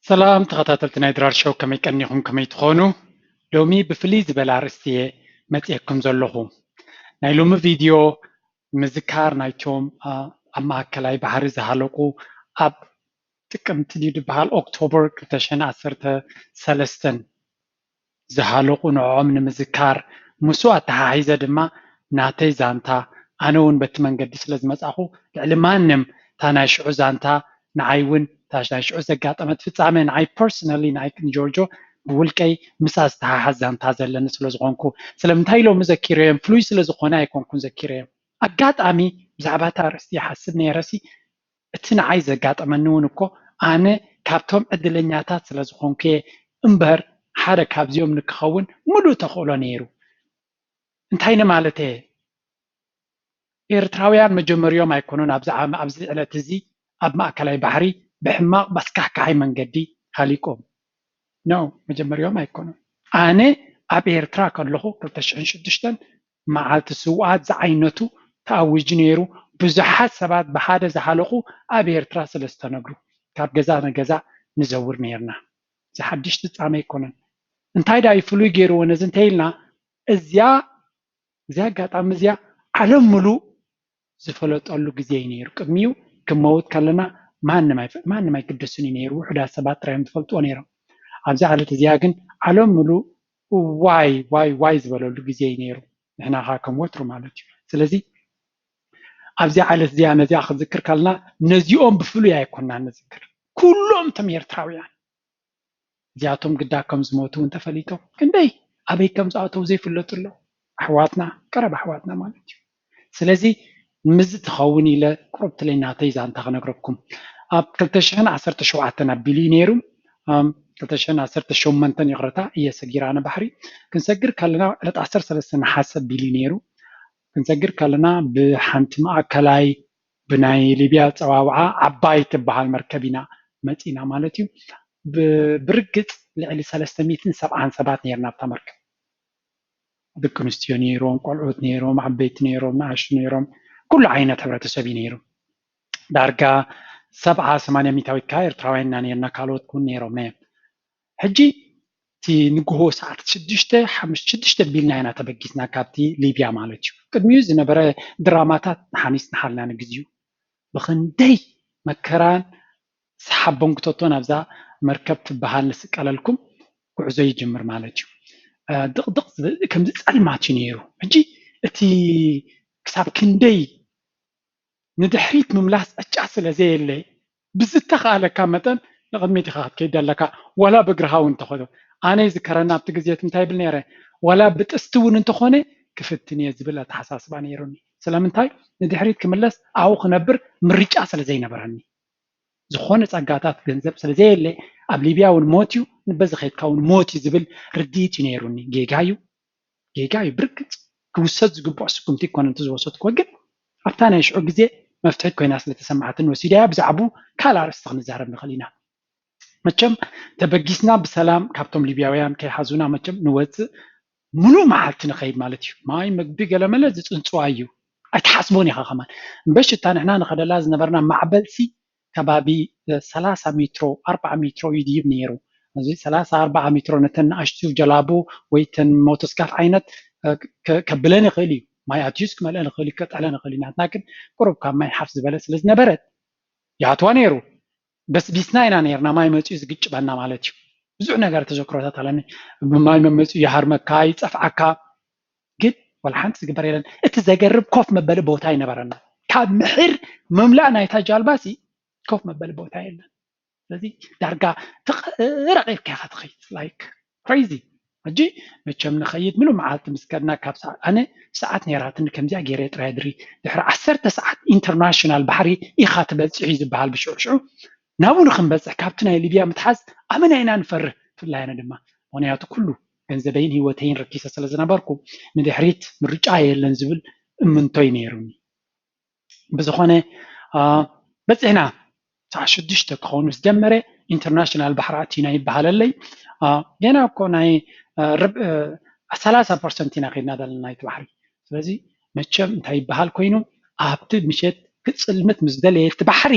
ሰላም ተኸታተልቲ ናይ ድራር ሾው ከመይ ቀኒኹም ከመይ ትኾኑ ሎሚ ብፍልይ ዝበለ ኣርእስቲ እየ መጺኤኩም ዘለኹ ናይ ሎሚ ቪድዮ ምዝካር ናይቶም ኣብ ማኣከላይ ባሕሪ ዝሃለቁ ኣብ ጥቅምቲ ድዩ ድበሃል ኦክቶበር ክልተ ሽሕን ዓሰርተ ሰለስተን ዝሃለቁ ንዖዖም ንምዝካር ምስኡ ኣተሓሒዘ ድማ ናተይ ዛንታ ኣነ ውን በቲ መንገዲ ስለ ዝመጻኹ ልዕሊ ማንም እታ ናይ ሽዑ ዛንታ ንዓይ ውን እታ ናይ ሽዑ ዘጋጠመት ፍጻመ ንዓይ ፐርሰናሊ ንዓይ ንጆርጆ ብውልቀይ ምስኣ ዝተሓሓዝ ዛንታ ዘለኒ ስለ ዝኾንኩ ስለምንታይ ሎሚ ዘኪረዮም ፍሉይ ስለ ዝኾነ ኣይኮንኩን ዘኪረዮም ኣጋጣሚ ብዛዕባ እቲ ኣርእስቲ ይሓስብ ነይረሲ እቲ ንዓይ ዘጋጠመኒ እውን እኮ ኣነ ካብቶም ዕድለኛታት ስለ ዝኾንኩ'የ እምበር ሓደ ካብዚኦም ንክኸውን ምሉእ ተኽእሎ ነይሩ። እንታይ ንማለት'የ? ኤርትራውያን መጀመርይኦም ኣይኮኑን ኣብዚ ዓም ኣብዚ ዕለት እዚ ኣብ ማእከላይ ባሕሪ ብሕማቕ ኣስካሕካሒ መንገዲ ሃሊቆም። No መጀመርይኦም ኣይኮኑን። ኣነ ኣብ ኤርትራ ከለኹ ክልተ ሽሕን ሽዱሽተን መዓልቲ ስውኣት ዝዓይነቱ ተኣዊጁ ነይሩ ብዙሓት ሰባት ብሓደ ዝሃለቁ ኣብ ኤርትራ ስለ ዝተነብሩ ካብ ገዛ ንገዛ ንዘውር ነይርና እዚ ሓድሽ ፍጻመ ኣይኮነን እንታይ ድኣ እዩ ፍሉይ ገይርዎ ነዚ እንተይልና እዚኣ እዚኣ ኣጋጣሚ እዚኣ ዓለም ምሉእ ዝፈለጠሉ ግዜ እዩ ነይሩ ቅድሚኡ ክንመውት ከለና ማንም ማንም ኣይግደስን እዩ ነይሩ ውሑዳት ሰባት ጥራይ እዮም ዝፈልጥዎ ነይሮም ኣብዛ ዕለት እዚኣ ግን ዓለም ምሉእ ዋይ ዋይ ዋይ ዝበለሉ ግዜ እዩ ነይሩ ንሕና ከኣ ከም ወትሩ ማለት እዩ ስለዚ ኣብዚኣ ዕለት እዚኣ ነዚኣ ክዝክር ከለና ነዚኦም ብፍሉይ ኣይኮናን ንዝክር ኩሎም እቶም ኤርትራውያን እዚኣቶም ግዳ ከም ዝሞቱ እውን ተፈሊጦም ክንደይ ኣበይ ከም ዝኣተው ዘይፍለጡ ኣለው ኣሕዋትና ቀረባ ኣሕዋትና ማለት እዩ ስለዚ ንምዚ ትኸውን ኢለ ቁሩብ ትለይ ናተይ ዛንታ ክነግረኩም ኣብ ክልተ ሽሕን ዓሰርተ ሸውዓተን ኣቢሉ እዩ ነይሩ ክልተ ሽሕን ዓሰርተ ሸመንተን ይቕረታ እየ ሰጊር ኣነ ባሕሪ ክንሰግር ከለና ዕለት ዓሰርተ ሰለስተ ነሓሰ ኣቢሉ እዩ ነይሩ ክንሰግር ከለና ብሓንቲ ማእከላይ ብናይ ሊብያ ኣጸዋውዓ ዓባይ ትበሃል መርከብ ኢና መጺእና ማለት'ዩ። ብርግጽ ልዕሊ ሰለስተ ሚእትን ሰብዓን ሰባት ኔርና ኣብታ መርከብ። ደቂ ኣንስትዮ ኔሮም፣ ቆልዑት ኔሮም፣ ዓበይቲ ኔሮም፣ ንኣሽቱ ኔሮም፣ ኩሉ ዓይነት ሕብረተሰብ'ዩ ኔሩ። ዳርጋ ሰብዓ ሰማንያ ሚታዊት ከኣ ኤርትራውያን ኢና ኔርና፣ ካልኦት ውን ኔሮም ነየም። ሕጂ እቲ ንግሆ ሰዓት ሽዱሽተ ሓሙሽተ ሽዱሽተ ኣቢልና ኢና ተበጊስና ካብቲ ሊብያ ማለት እዩ ቅድሚኡ ዝነበረ ድራማታት ንሓኒጽናሃልና ንግዚኡ ብኽንደይ መከራን ሓቦንግቶቶን ኣብዛ መርከብ ትበሃል ንስቀለልኩም ጉዕዞ ይጅምር ማለት እዩ ድቕድቕ ከምዚ ጸልማት እዩ ነይሩ ሕጂ እቲ ክሳብ ክንደይ ንድሕሪት ምምላስ ዕጫ ስለ ዘየለ ብዝተኻእለካ መጠን ንቕድሚት ኢኻ ክትከይድ ዘለካ ዋላ ብእግርኻ ውን እንተኾነ ኣነ ይዝከረኒ ኣብቲ ግዜ እቲ እንታይ ይብል ነይረ ዋላ ብጥስቲ ውን እንተኾነ ክፍትን እየ ዝብል ኣተሓሳስባ ነይሩኒ ስለምንታይ ንድሕሪት ክምለስ ኣብኡ ክነብር ምርጫ ስለ ዘይነበረኒ ዝኾነ ጸጋታት ገንዘብ ስለ ዘየለ ኣብ ሊብያ ውን ሞት እዩ በዚ ከድካ ውን ሞት እዩ ዝብል ርድኢት እዩ ነይሩኒ ጌጋ እዩ ጌጋ እዩ ብርግፅ ክውሰድ ዝግበኦ ስጉምቲ ኣይኮነን እቲ ዝወሰድክዎ ግን ኣብታ ናይ ሽዑ ግዜ መፍትሒት ኮይና ስለ ተሰማዓትኒ ወሲደያ ብዛዕብኡ ካልእ ኣርእስቲ ክንዛረብ ንኽእል ኢና መቸም ተበጊስና ብሰላም ካብቶም ሊብያውያን ከይሓዙና መቸም ንወፅእ ሙሉእ መዓልቲ ንኸይድ ማለት እዩ ማይ ምግቢ ገለመለ ዝፅንፅዋ እዩ ኣይትሓስቦን ኢኻ ከማን እምበሽ እታ ንሕና ንኸደላ ዝነበርና ማዕበልሲ ከባቢ ሰላሳ ሜትሮ ኣርባዓ ሜትሮ ይድይብ ነይሩ። እዚ ሰላሳ ኣርባዓ ሜትሮ ነተን ንኣሽቱ ጀላቡ ወይ እተን ሞቶስካፍ ዓይነት ከብለን ይኽእል እዩ። ማይ ኣትዩስ ክመልኣን ይኽእል እዩ፣ ከጥዕለን ይኽእል እዩ። ናትና ግን ቁሩብ ካብ ማይ ሓፍ ዝበለት ስለ ዝነበረት ይኣትዋ ነይሩ። በስቢስና ኢና ነይርና ማይ መጺኡ ዝግጭበና ማለት እዩ። ብዙሕ ነገር ተዘክሮታት ኣለኒ። ማይ መመጺኡ ይሃርመካ፣ ይጸፍዓካ፣ ግን ዋላ ሓንቲ ዝግበር የለን። እቲ ዘገርም ኮፍ መበሊ ቦታ ኣይነበረና። ካብ ምሒር ምምላእ ናይታ ጃልባሲ ኮፍ መበሊ ቦታ የለን። ስለዚ ዳርጋ ትቕረቕ ኢልካ ኢኻ ትኸይድ ላይክ ክሬዚ ሕጂ መቸም ንኸይድ ምሉእ መዓልቲ ምስ ከድና ካብ ሰዓት ኣነ ሰዓት ነይራትኒ ከምዚኣ ገይረ ጥራይ ድሪ ድሕሪ ዓሰርተ ሰዓት ኢንተርናሽናል ባሕሪ ኢኻ ትበጽሑ እዩ ዝበሃል ብሽዑ ሽዑ ናብኡ ንክንበጽሕ ካብቲ ናይ ሊብያ ምትሓዝ ኣመና ኢና ንፈርህ ብፍላይ ኣነ ድማ ምክንያቱ ኩሉ ገንዘበይን ህይወተይን ረኪሰ ስለ ዝነበርኩ ንድሕሪት ምርጫ የለን ዝብል እምንቶይ ነይሩኒ። ብዝኾነ በፂሕና ሰዓት ሽዱሽተ ክኸውን ምስ ጀመረ ኢንተርናሽናል ባሕሪ ኣቲና ይበሃለለይ ገና እኮ ናይ ሰላሳ ፐርሰንት ኢና ከድና ዘለና ናይቲ ባሕሪ ስለዚ መቸም እንታይ ይበሃል ኮይኑ ኣብቲ ምሸት ክፅልምት ምስ ደለየ እቲ ባሕሪ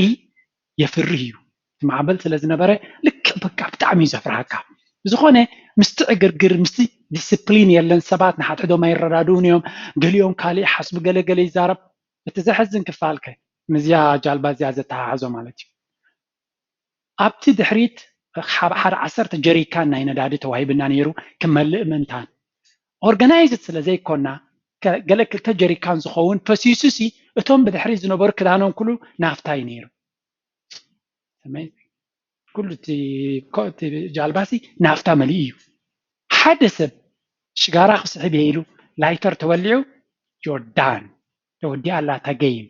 የፍርህ እዩ እቲ ማዕበል ስለ ዝነበረ ልክዕ በቃ ብጣዕሚ እዩ ዘፍርሃካ ብዝኾነ ምስቲ ዕግርግር ምስቲ ዲስፕሊን የለን ሰባት ንሓድሕዶም ኣይረዳድኡን እዮም ገሊኦም ካልእ ይሓስቡ ገለ ገለ ይዛረብ እቲ ዘሕዝን ክፋል ከ ምስዚያ ጃልባ እዚኣ ዘተሓሕዞ ማለት እዩ ኣብቲ ድሕሪት ሓደ ዓሰርተ ጀሪካን ናይ ነዳዲ ተዋሂብና ነይሩ ክመልእ ምእንታን ኦርጋናይዝድ ስለ ዘይኮና ገለ ክልተ ጀሪካን ዝኸውን ፈሲሱሲ እቶም ብድሕሪት ዝነበሩ ክዳኖም ኩሉ ናፍታ እዩ ነይሩ። ኩሉ እቲ ጃልባሲ ናፍታ መሊኡ እዩ። ሓደ ሰብ ሽጋራ ክስሕብ እየ ኢሉ ላይተር ተወሊዑ ጆርዳን ተወዲኣ ኣላ እታ ገይም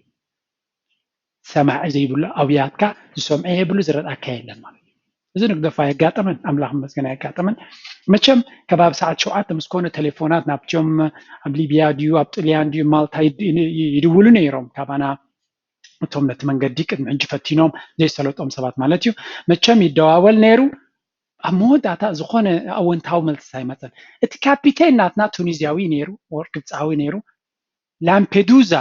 ሰማዒ ዘይብሉ ኣውያትካ ዝሰምዖ የብሉ ዝረኣካ የለን ማለት እዩ እዚ ንግደፎ ኣየጋጠመን ኣምላኽ ይመስገን ኣየጋጠመን መቸም ከባቢ ሰዓት ሸውዓተ ምስ ኮነ ቴሌፎናት ናብትዮም ኣብ ሊብያ ድዩ ኣብ ጥልያን ድዩ ማልታ ይድውሉ ነይሮም ካባና እቶም ነቲ መንገዲ ቅድሚ ሕጂ ፈቲኖም ዘይሰለጦም ሰባት ማለት እዩ መቸም ይደዋወል ነይሩ ኣብ መወዳእታ ዝኾነ ኣወንታዊ መልሲ ኣይመፀን እቲ ካፒቴን ናትና ቱኒዝያዊ ነይሩ ወር ግብፃዊ ነይሩ ላምፔዱዛ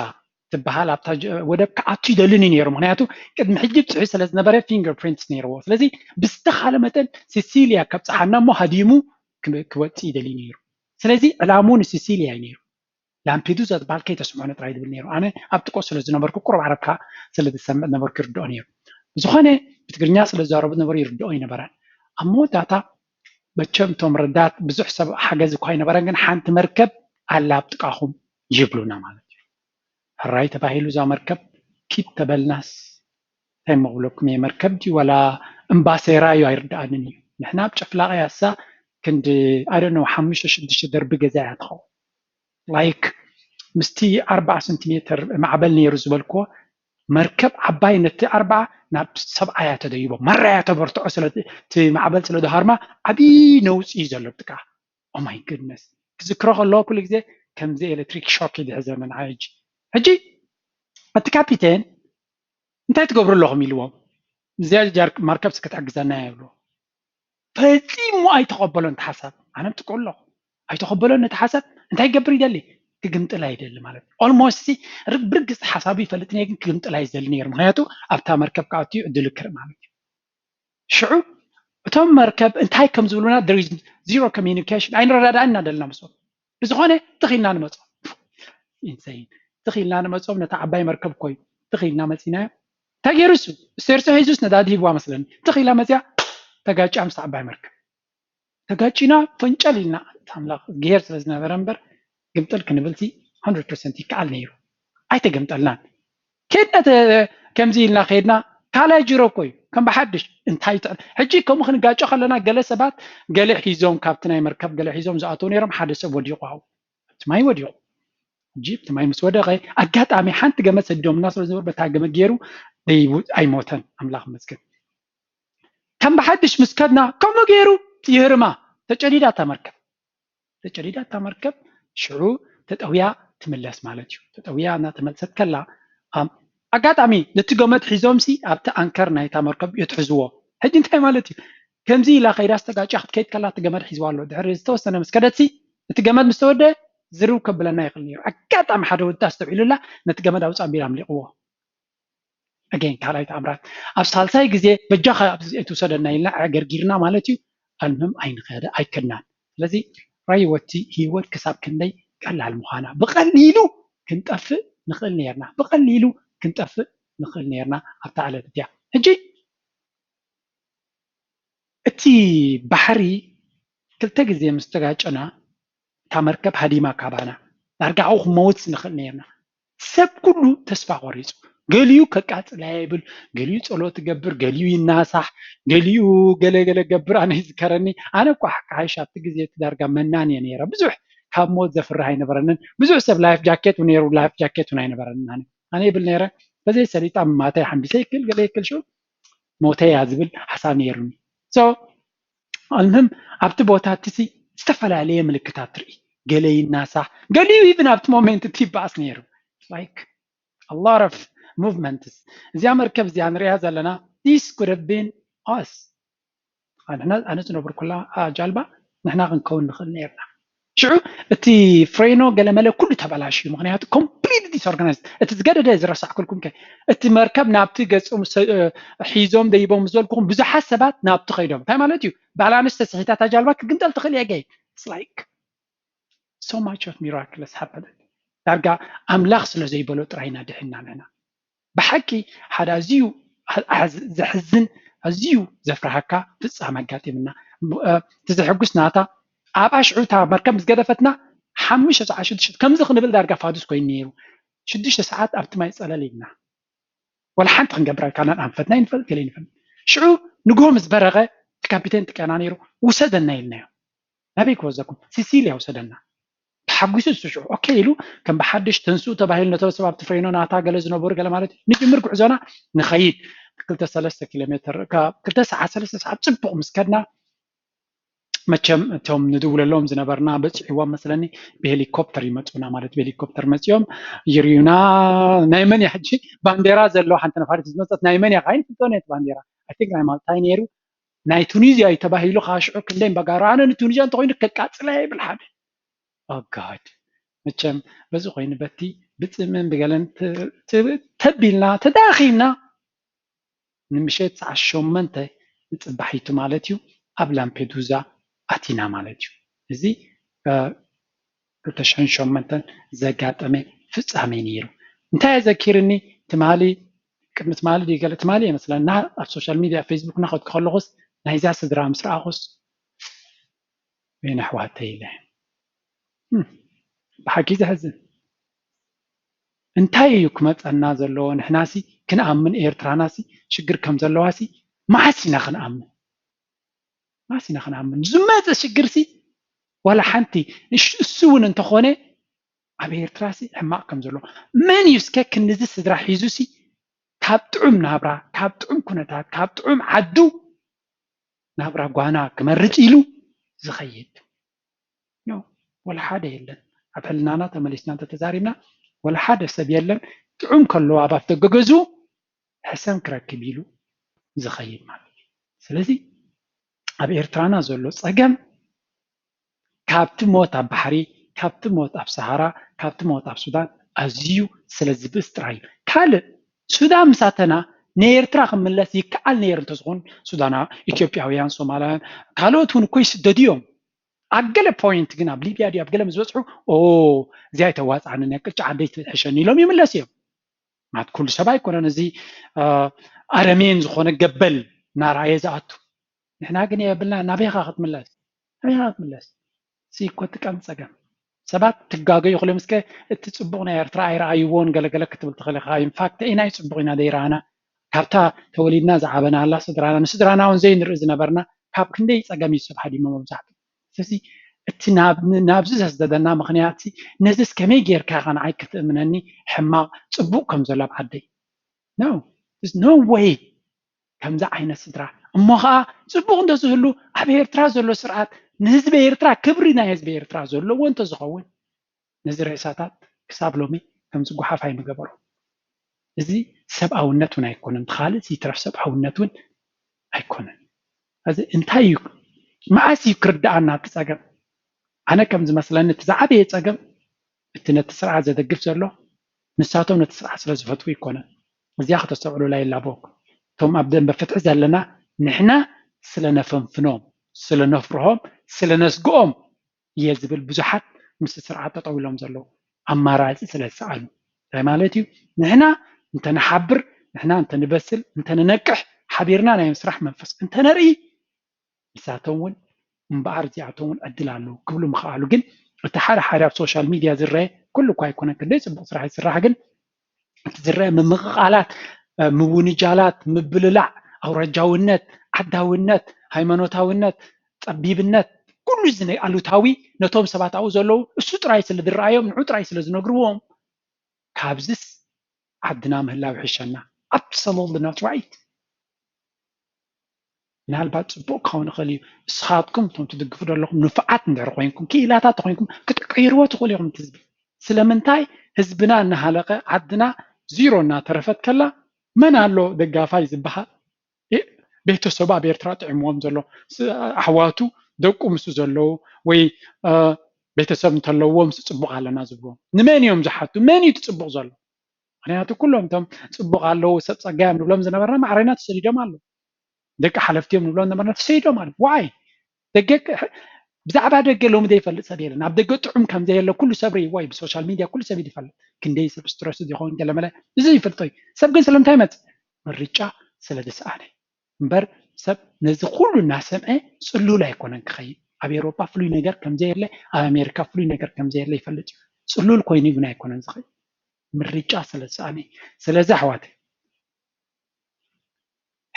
ትበሃል ኣብታ ወደብ ክኣቱ ይደልን ነይሩ ምክንያቱ ቅድሚ ሕጂ ብፅሒት ስለ ዝነበረ ፊንገር ፕሪንትስ ነይርዎ ስለዚ ብዝተኻለ መጠን ሲሲልያ ከብፅሓና እሞ ሃዲሙ ክወፅእ ይደልዩ ነይሩ ስለዚ ዕላምኡ ንሲሲልያ እዩ ነይሩ ላምፔዱዛ ዝበሃል ከይተስምዖነ ጥራይ ዝብል ነይሩ ኣነ ኣብ ጥቆ ስለ ዝነበርኩ ቁሩብ ዓረብካ ስለ ዝሰምዕ ነበርኩ ይርድኦ ነይሩ ብዝኾነ ብትግርኛ ስለ ዝዛረቡ ዝነበሩ ይርድኦ ኣይነበረን ኣብ መወዳእታ መቸም እቶም ረዳት ብዙሕ ሰብ ሓገዝ እኳ ኣይነበረን ግን ሓንቲ መርከብ ኣላ ኣብ ጥቃኹም ይብሉና ማለት እዩ ሕራይ ተባሂሉ እዛ መርከብ ኪድ ተበልናስ እንታይ እሞ ክብለኩም እየ መርከብ ድዩ ዋላ እምባ ሰይራ እዩ ኣይርድኣንን እዩ ንሕና ኣብ ጨፍላቂ ያሳ ክንዲ ኣይደነው ሓሙሽተ ሽዱሽተ ደርቢ ገዛ እያ ትኸውን ላይክ ምስቲ ኣርባዓ ሰንቲሜትር ማዕበል ነይሩ ዝበልክዎ መርከብ ዓባይ ነቲ ኣርባዓ ናብ ሰብዓያ ተደይቦ ማራያ ተበርትዖ ስለ እቲ ማዕበል ስለ ዝሃርማ ዓቢ ነውጺ እዩ ዘሎ ጥቃ ኦ ማይ ግድነስ ክዝክሮ ከለኩ ኩሉ ግዜ ከምዚ ኤለትሪክ ሾክ እዩ ዝሕዘኒ ንዓይ ሕጂ ሕጂ እቲ ካፒቴን እንታይ ትገብሩ ኣለኹም ኢልዎም እዚኣ ማርከብስ ክትሕግዘና እያ ይብልዎ ፈጺሙ ኣይተቐበሎን እቲ ሓሳብ ኣነ ብጥቅኡ ኣለኹ ኣይተቐበሎን ነቲ ሓሳብ እንታይ ይገብር ይደሊ ክግምጥላ ይደሊ ማለት እዩ ኦልሞስት ብርግፅ ሓሳቡ ይፈልጥ ነይ ግን ክግምጥላ እዩ ዝደሊ ነይሩ ምክንያቱ ኣብታ መርከብ ክኣቱ እዩ እድሉ ክርኢ ማለት እዩ ሽዑ እቶም መርከብ እንታይ ከም ዝብሉና ዜሮ ኮሚኒኬሽን ኣይንረዳዳእን ኢና ደለና ምስኦም ብዝኾነ ትኽ ኢልና ንመጾም። ኢንሰይን። ትኽ ኢልና ንመጾም ነታ ዓባይ መርከብ እኮ እዩ ትኽ ኢልና መጺእናያ። እንታይ ገይሩ እሱ? ስቴርሶ ሄዙስ ነዳዲ ሂብዋ መስለኒ ትኽ ኢላ መጺኣ ተጋጭያ ምስታ ዓባይ መርከብ። ተጋጪና ፈንጨል ኢልና ኣንታ ኣምላኽ እዝግሄር ስለ ዝነበረ እምበር ግምጥል ክንብልሲ ሃንድረድ ፐርሰንት ይከኣል ነይሩ። ኣይተገምጠልናን። ኬድና ከምዚ ኢልና ኬድና ካልኣይ ጅሮ እኮ እዩ ከም ብሓድሽ እንታይ ትዕል ሕጂ ከምኡ ክንጋጮ ከለና ገለ ሰባት ገለ ሒዞም ካብቲ ናይ መርከብ ገለ ሒዞም ዝኣተው ነይሮም ሓደ ሰብ ወዲቑ ኣብኡ ኣብቲ ማይ ወዲቑ ሕጂ እቲ ማይ ምስ ወደቐ ኣጋጣሚ ሓንቲ ገመድ ሰዲዶምና ስለ ዝነበሩ በታ ገመድ ገይሩ ኣይሞተን ኣምላኽ መስገን ከም ብሓድሽ ምስ ከድና ከምኡ ገይሩ ይህርማ ተጨዲዳ እታ መርከብ እንተጨዲዳ እታ መርከብ ሽዑ ተጠውያ ትምለስ ማለት እዩ። ተጠውያ እናተመልሰት ከላ ኣብ ኣጋጣሚ ነቲ ገመድ ሒዞምሲ ኣብቲ ኣንከር ናይታ መርከብ የትሕዝዎ። ሕጂ እንታይ ማለት እዩ? ከምዚ ኢላ ከይዳስ ተጋጭያ ክትከይድ ከላ እቲ ገመድ ሒዝዋ ኣሎ። ድሕሪ ዝተወሰነ ምስ ከደትሲ እቲ ገመድ ምስ ተወደአ ዝርው ከብለና ይኽእል ነይሩ። ኣጋጣሚ ሓደ ወዲ ኣስተውዒሉላ ነቲ ገመድ ኣውጽእ ኣቢሉ ኣምሊቕዎ። ኣገይን ካልኣይ ተኣምራት ኣብ ሳልሳይ ግዜ በጃካ ኣብዚ ኣይትውሰደና ኢልና ኣዕገርጊርና ማለት እዩ ኣንም ኣይከድናን ስለዚ ራይወቲ ሂወት ክሳብ ክንደይ ቀላል ምኳና ብቀሊሉ ክንጠፍእ ንክእል ነይርና ብቀሊሉ ክንጠፍእ ንክእል ነይርና ኣብታ ዕለት እቲኣ ሕጂ እቲ ባሕሪ ክልተ ግዜ ምስ ተጋጨና እታ መርከብ ሃዲማ ካባና ዳርጋ ኣብኡ ክንመውት ንክእል ነይርና ሰብ ኩሉ ተስፋ ቆሪፁ ገሊኡ ከቃፅላ እየ ይብል ገሊኡ ፀሎት ይገብር ገሊኡ ይናሳሕ ገሊኡ ገለ ገለ ክገብር ኣነ ይዝከረኒ ኣነ እኳ ሓሓይሽ ኣብቲ ግዜ እቲ ዳርጋ መናን እየ ነይረ ብዙሕ ካብ ሞት ዘፍርህ ኣይነበረንን ብዙሕ ሰብ ላይፍ ጃኬት ነይሩ ላይፍ ጃኬት እውን ኣይነበረንን ኣነ ኣነ ይብል ነይረ በዘይ ሰሊጣ ምማተይ ሓምቢሰ ይክል ገለ ይክል ሽዑ ሞተ እያ ዝብል ሓሳብ ነይሩኒ ሶ ኣልሙሁም ኣብቲ ቦታ እቲ ዝተፈላለየ ምልክታት ትርኢ ገለ ይናሳሕ ገሊኡ ኢቭን ኣብቲ ሞሜንት እቲ ይበኣስ ነይሩ ላይክ ኣሎት ኦፍ ሙቭመንትስ እዚኣ መርከብ እዚኣ ንሪኣ ዘለና ዲስ ኩድ ሃቭ ቢን ኣስ ንሕና ኣነ ዝነብርኩላ ጃልባ ንሕና ክንከውን ንኽእል ነይርና ሽዑ እቲ ፍሬኖ ገለመለ ኩሉ ተበላሽዩ ምክንያቱ ኮምፕሊት ዲስኦርጋናይዝ እቲ ዝገደደ ዝረሳዕኩልኩም ከ እቲ መርከብ ናብቲ ገጾም ሒዞም ደይቦም ዝበልኩኹም ብዙሓት ሰባት ናብቲ ከይዶም እንታይ ማለት እዩ ባላንስ ተስሒታ እታ ጃልባ ክትግምጠል ትኽእል እያ ገይ ላይክ ሶ ማች ኦፍ ሚራክለስ ሃፐን ዳርጋ ኣምላኽ ስለ ዘይበሎ ጥራይ ኢና ድሒንና ንሕና ብሓቂ ሓደ ኣዝዩ ዘሕዝን ኣዝዩ ዘፍርሃካ ፍጻመ ኣጋጢምና እቲ ዘሐጉስ ናታ ኣብኣ ሽዑ እታ መርከብ ምስ ገደፈትና ሓሙሽተ ሰዓት ሽዱሽተ ሰዓት ከምዚ ክንብል ዳርጋ ፋዱስ ኮይኑ ነይሩ ሽዱሽተ ሰዓት ኣብቲ ማይ ጸለል ኢልና ወላ ሓንቲ ክንገብር ኣይከኣልናን ኣንፈትና ይንፈል ገለ ይንፈል ሽዑ ንግሆ ምስ በረቐ እቲ ካፒቴን ጥቀና ነይሩ ውሰደና ኢልናዮ ናበይ ክወዘኩም ሲሲልያ ውሰደና ተሓጒሱ እሱ ሽዑ ኦኬ ኢሉ ከም ብሓድሽ ተንስኡ ተባሂሉ ነቶም ሰብ ኣብቲ ፈይኖ ናታ ገለ ዝነበሩ ገለ ማለት እዩ ንጅምር ጉዕዞና ንኸይድ ክልተ ሰለስተ ኪሎ ሜትር ካብ ክልተ ሰዓት ሰለስተ ሰዓት ጽቡቕ ምስ ከድና መቸም እቶም ንድውለሎም ዝነበርና በፂዕዎም መስለኒ ብሄሊኮፕተር ይመፁና ማለት ብሄሊኮፕተር መፂኦም ይርዩና ናይ መን እያ ሕጂ ባንዴራ ዘለዎ ሓንቲ ነፋሪት ዝመፀት ናይ መን እያ ካይን ፍልጦን እየ ባንዴራ ኣይ ቲንክ ናይ ማልታይ ነይሩ ናይ ቱኒዝያ እዩ ተባሂሉ ከዓ ሽዑ ክንደይ በጋራ ኣነ ንቱኒዝያ እንተኮይኑ ከቃፅለያ ይብል ሓደ ኣጋድ መቸም በዚ ኮይኑ በቲ ብፅምን ብገለን ተቢልና ተዳኺምና ንምሸት ሰዓት ሸሞንተ ንፅባሒቱ ማለት እዩ ኣብ ላምፔዱዛ ኣቲና ማለት እዩ እዚ ክልተ ሽሕን ሸሞንተን ዘጋጠመ ፍጻሜ ነይሩ እንታይ ኣዘኪርኒ ትማሊ ቅድሚ ትማሊ ድዩ ገለ ትማሊ እየ መስለኒ እና ኣብ ሶሻል ሚድያ ፌስቡክ እናኸድኩ ከለኹስ ናይዛ ስድራ ምስ ረኣኹስ ወይኒ ኣሕዋተይ ኢለ ብሓቂ ዘሕዝን እንታይ እዩ ክመፀና ዘለዎ ንሕናሲ ክንኣምን ኤርትራናሲ ሽግር ከም ዘለዋሲ መዓስ ኢና ክንኣምን ማስ ኢና ክንኣምን ዝመፀ ሽግርሲ ዋላ ሓንቲ እሱ እውን እንተኾነ ኣብ ኤርትራሲ ሕማቕ ከም ዘሎ መን እዩ እስከ ክንዚ ስድራ ሒዙሲ ካብ ጥዑም ናብራ ካብ ጥዑም ኩነታት ካብ ጥዑም ዓዱ ናብራ ጓና ክመርፅ ኢሉ ዝኸይድ ኖ ወላ ሓደ የለን ኣብ ሕልናና ተመሊስና እንተተዛሪብና ወላ ሓደ ሰብ የለን ጥዑም ከለዋ ኣብ ኣፍደገ ገዝኡ ሕሰም ክረክብ ኢሉ ዝኸይድ ማለት እዩ። ስለዚ ኣብ ኤርትራና ዘሎ ጸገም ካብቲ ሞት ኣብ ባሕሪ፣ ካብቲ ሞት ኣብ ሰሃራ፣ ካብቲ ሞት ኣብ ሱዳን ኣዝዩ ስለ ዝብእስ ጥራይ እዩ። ካልእ ሱዳን ምስ ኣተና ንኤርትራ ክምለስ ይከኣል ነይሩ እንተዝኾን ሱዳና ኢትዮጵያውያን፣ ሶማላውያን ካልኦት እውን እኮ ይስደዱ እዮም። ኣብ ገለ ፖይንት ግን ኣብ ሊብያ ድዩ ኣብ ገለ ምስ በጽሑ ኦ እዚኣ ኣይተዋጽኣንን እያ ቅጫ ዓደይ ትሕሸኒ ኢሎም ይምለሱ እዮም። ምክንያቱ ኩሉ ሰብ ኣይኮነን እዚ ኣረሜን ዝኾነ ገበል እናረኣየ ዝኣቱ ንሕና ግን የብልና ናበይኻ ክትምለስ ናበይኻ ክትምለስ እዚ እኮ እቲ ቀንዲ ፀገም ሰባት ትጋገ ይኽእሉ እዮም እስከ እቲ ፅቡቕ ናይ ኤርትራ ኣይረኣይዎን ገለገለ ክትብል ትኽእል ኢኻ ኢንፋክት ኢናይ ፅቡቕ ኢና ዘይረኣና ካብታ ተወሊድና ዝዓበናላ ስድራና ንስድራና እውን ዘይንርኢ ዝነበርና ካብ ክንደይ ፀገም እዩ ሰብ ሃዲሞ መብዛሕትኡ ስለዚ እቲ ናብዚ ዘስደደና ምኽንያት ነዚስ ከመይ ጌርካ ኢኻ ንዓይ ክትእምነኒ ሕማቕ ጽቡቕ ከም ዘሎ ኣብ ዓደይ ኖ ስ ኖ ወይ ከምዚ ዓይነት ስድራ እሞ ኸኣ ጽቡቕ እንተ ዝህሉ ኣብ ኤርትራ ዘሎ ስርዓት ንህዝቢ ኤርትራ ክብሪ ናይ ህዝቢ ኤርትራ ዘለዎ እንተ ዝኸውን ነዚ ሬሳታት ክሳብ ሎሚ ከምዚ ጉሓፍ ኣይምገበሮ እዚ ሰብኣውነት ውን ኣይኮነን ብካልእስ ይትረፍ ሰብኣውነት ውን ኣይኮነን ሀዚ እንታይ እዩ መዓስ እዩ ክርደኣና እቲ ፀገም ኣነ ከም ዝመስለኒ እቲ ዝዓበየ ፀገም እቲ ነቲ ስርዓት ዘደግፍ ዘሎ ንሳቶም ነቲ ስርዓት ስለ ዝፈትዉ ኣይኮነን እዚኣ ከተስተውዕሉላ ይላበወኩም እቶም ኣብ ደንበ ፍትሒ ዘለና ንሕና ስለ ነፈንፍኖም ስለ ነፍርሆም ስለ ነስግኦም እየ ዝብል ብዙሓት ምስቲ ስርዓት ጠጠው ኢሎም ዘለዉ ኣማራፂ ስለዝሰኣኑ እንታይ ማለት እዩ ንሕና እንተንሓብር ንሕና እንተንበስል እንተንነቅሕ ሓቢርና ናይ ምስራሕ መንፈስ እንተነርኢ ንሳቶም እውን እምበኣር እዚኣቶም እውን ዕድል ኣለዉ ክብሉ ምኸኣሉ ግን እቲ ሓደ ሓደ ኣብ ሶሻል ሚድያ ዝረአ ኩሉ እኳ ኣይኮነን ክንደይ ፅቡቕ ስራሕ ይስራሕ ግን ዝረኣ ምምቕቓላት፣ ምውንጃላት፣ ምብልላዕ፣ ኣውራጃውነት፣ ዓዳውነት፣ ሃይማኖታውነት፣ ፀቢብነት ኩሉ እዚ ናይ ኣሉታዊ ነቶም ሰባት ኣብኡ ዘለዉ እሱ ጥራይ ስለ ዝረኣዮም ንዑ ጥራይ ስለ ዝነግርዎም ካብዝስ ዓድና ምህላው ይሕሸና። Absolutely not right። ምናልባት ፅቡቅ ክኸውን ይኽእል እዩ ንስኻትኩም እቶም ትድግፉ ዘለኹም ንፉዓት እንድሕር ኾይንኩም ክኢላታት ኾይንኩም ክትቅይርዎ ትኽእሉ ኢኹም እቲ ህዝቢ ስለምንታይ ህዝብና እናሃለቀ ዓድና ዚሮ እናተረፈት ከላ መን ኣሎ ደጋፋይ ዝበሃል ቤተሰቡ ኣብ ኤርትራ ጥዒምዎም ዘሎ ኣሕዋቱ ደቁ ምስ ዘለዉ ወይ ቤተሰብ እንተለዎ ምስ ፅቡቅ ኣለና ዝብልዎ ንመን እዮም ዝሓቱ መን እዩ እቲ ፅቡቅ ዘሎ ምክንያቱ ኩሎም እቶም ፅቡቅ ኣለው ሰብ ፀጋዮም ንብሎም ዝነበርና ማዕረና ተሰዲዶም ኣለው ደቂ ሓለፍቲ እዮም ንብሎም ዝነበርና ተሰዲዶም ኣለው ዋይ ደገ ብዛዕባ ደገ ሎሚ ዘይፈልጥ ሰብ የለን ኣብ ደገ ጥዑም ከም ዘየለ ኩሉ ሰብ ርእይዎ እዩ ብሶሻል ሚድያ ኩሉ ሰብ ይፈልጥ ክንደይ ሰብ ስትረሱ ዝኸውን ገለመለ እዚ ይፈልጦ እዩ ሰብ ግን ስለምንታይ መፅ ምርጫ ስለ ዝሰኣነ እምበር ሰብ ነዚ ኩሉ እናሰምዐ ፅሉል ኣይኮነን ክኸይድ። ኣብ ኤውሮጳ ፍሉይ ነገር ከም ዘየለ፣ ኣብ ኣሜሪካ ፍሉይ ነገር ከም ዘየለ ይፈልጥ እዩ። ፅሉል ኮይኑ ግን ኣይኮነን ዝኸይድ። ምርጫ ስለ ዝሰኣነ እዩ። ስለዚ ኣሕዋተይ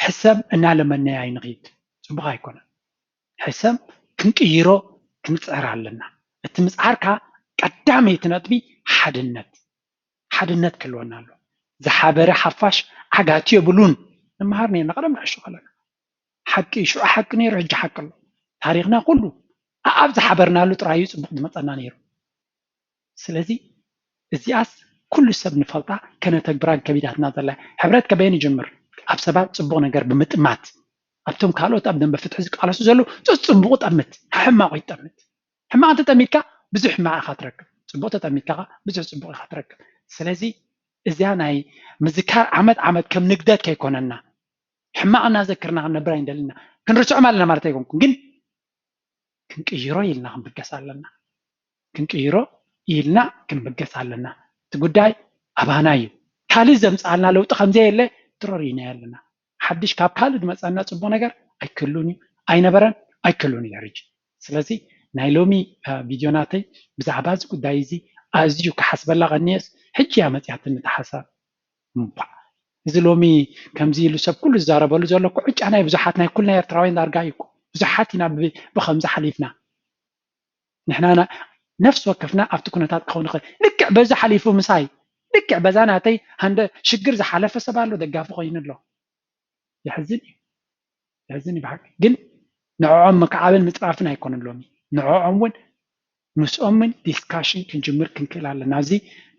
ሕሰም እናለመናዮ ኣይንኺድ፣ ፅቡቕ ኣይኮነን። ሕሰም ክንቅይሮ ክንፅዕር ኣለና። እቲ ምፅዓርካ ቀዳመይቲ ነጥቢ ሓድነት። ሓድነት ክህልወና ኣለዎ። ዝሓበረ ሓፋሽ ዓጋቲ የብሉን ንመሃር ኔርና ቀደም ንዕሾ ከለና። ሓቂ እዩ ሽዑ ሓቂ ኔሩ ሕጂ ሓቂ ኣሎ። ታሪኽና ኩሉ ኣኣብ ዝሓበርናሉ ጥራይ እዩ ጽቡቕ ዝመጸና ኔሩ። ስለዚ እዚኣስ ኩሉ ሰብ ንፈልጣ ከነተግብራን ከቢዳትና ዘላ እያ። ሕብረት ከበየን ይጅምር? ኣብ ሰባት ጽቡቕ ነገር ብምጥማት። ኣብቶም ካልኦት ኣብ ደምበ ፍትሒ ዝቃለሱ ዘለዉ ጸጽቡቑ ጠምት፣ ሓሕማቑ ይጠምት። ሕማቅ ተጠሚትካ ብዙሕ ሕማቅ ኢካ ትረክብ ፅቡቅ ተጠሚትካ ከኣ ብዙሕ ፅቡቅ ኢካ ትረክብ ስለዚ እዚኣ ናይ ምዝካር ዓመት ዓመት ከም ንግደት ከይኮነና ሕማቅ እናዘክርና ክንነብር ኣይንደልን ኢና ክንርስዖም ኣለና ማለት ኣይኮንኩን ግን ክንቅይሮ ኢልና ክንብገስ ኣለና ክንቅይሮ ኢልና ክንብገስ ኣለና እቲ ጉዳይ ኣባና እዩ ካልእ ዘምፅኣልና ለውጢ ከምዘየለ ድሮ ሪኢናዮ ኣለና ሓድሽ ካብ ካልእ ድመጸና ጽቡቅ ነገር ኣይክህሉን እዩ ኣይነበረን ኣይክህሉን እዩ ድሕርጂ ስለዚ ናይ ሎሚ ቪድዮ ናተይ ብዛዕባ እዚ ጉዳይ እዚ ኣዝዩ ክሓስበላ ቀንየስ ሕጂ እያ መጽያትኒ እታ ሓሳብ እንኳዕ እዚ ሎሚ ከምዚ ኢሉ ሰብ ኩሉ ዝዛረበሉ ዘሎ እኮ ዕጫ ናይ ብዙሓት ናይ ኩልና ኤርትራውያን ዳርጋ እዩ እኮ ብዙሓት ኢና ብከምዚ ሓሊፍና ንሕና ነፍሲ ወከፍና ኣብቲ ኩነታት ክኸውን ይኽእል ልክዕ በዚ ሓሊፉ ምሳይ ልክዕ በዛ ናተይ ሃንደ ሽግር ዝሓለፈ ሰብ ኣሎ ደጋፊ ኮይኑ ኣሎ የሕዝን እዩ የሕዝን እዩ ብሓቂ ግን ንዕዖም ምክዓብን ምፅራፍን ኣይኮነን ሎሚ ንዕዖም እውን ምስኦምን ዲስካሽን ክንጅምር ክንክእል ኣለና እዚ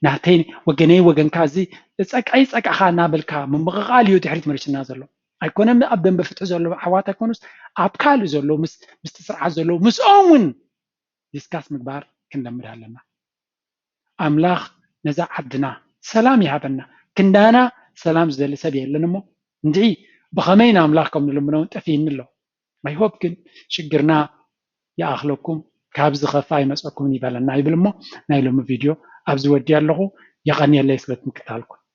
ናተይ ወገነይ ወገንካ እዚ ፀቅዐይ ፀቅዕኻ እናበልካ ምምቕቓል እዩ ድሕሪት መሊሱና ዘሎ ኣይኮነን ኣብ ደንበ ፍትሒ ዘለዉ ኣሕዋት ኣይኮኑስ ኣብ ካልእ ዘለዉ ምስቲ ስርዓት ዘለዉ ምስኦም እውን ዲስካስ ምግባር ክንለምድ ኣለና። ኣምላኽ ነዛ ዓድና ሰላም ይሃበና። ክንዳና ሰላም ዝደሊ ሰብ የለን እሞ እንድዒ ብኸመይ ንኣምላኽ ከም ንልምኖ እውን ጠፊእኒ ኣሎ። ኣይሆፕ ግን ሽግርና ይኣኽለኩም ካብ ዝኸፍእ ኣይመፀኩምን ይበለና ይብል እሞ ናይ ሎሚ ቪድዮ ኣብዚ ወዲኣ ኣለኹ። የቐንየለይ ስለ ምክትታልኩም።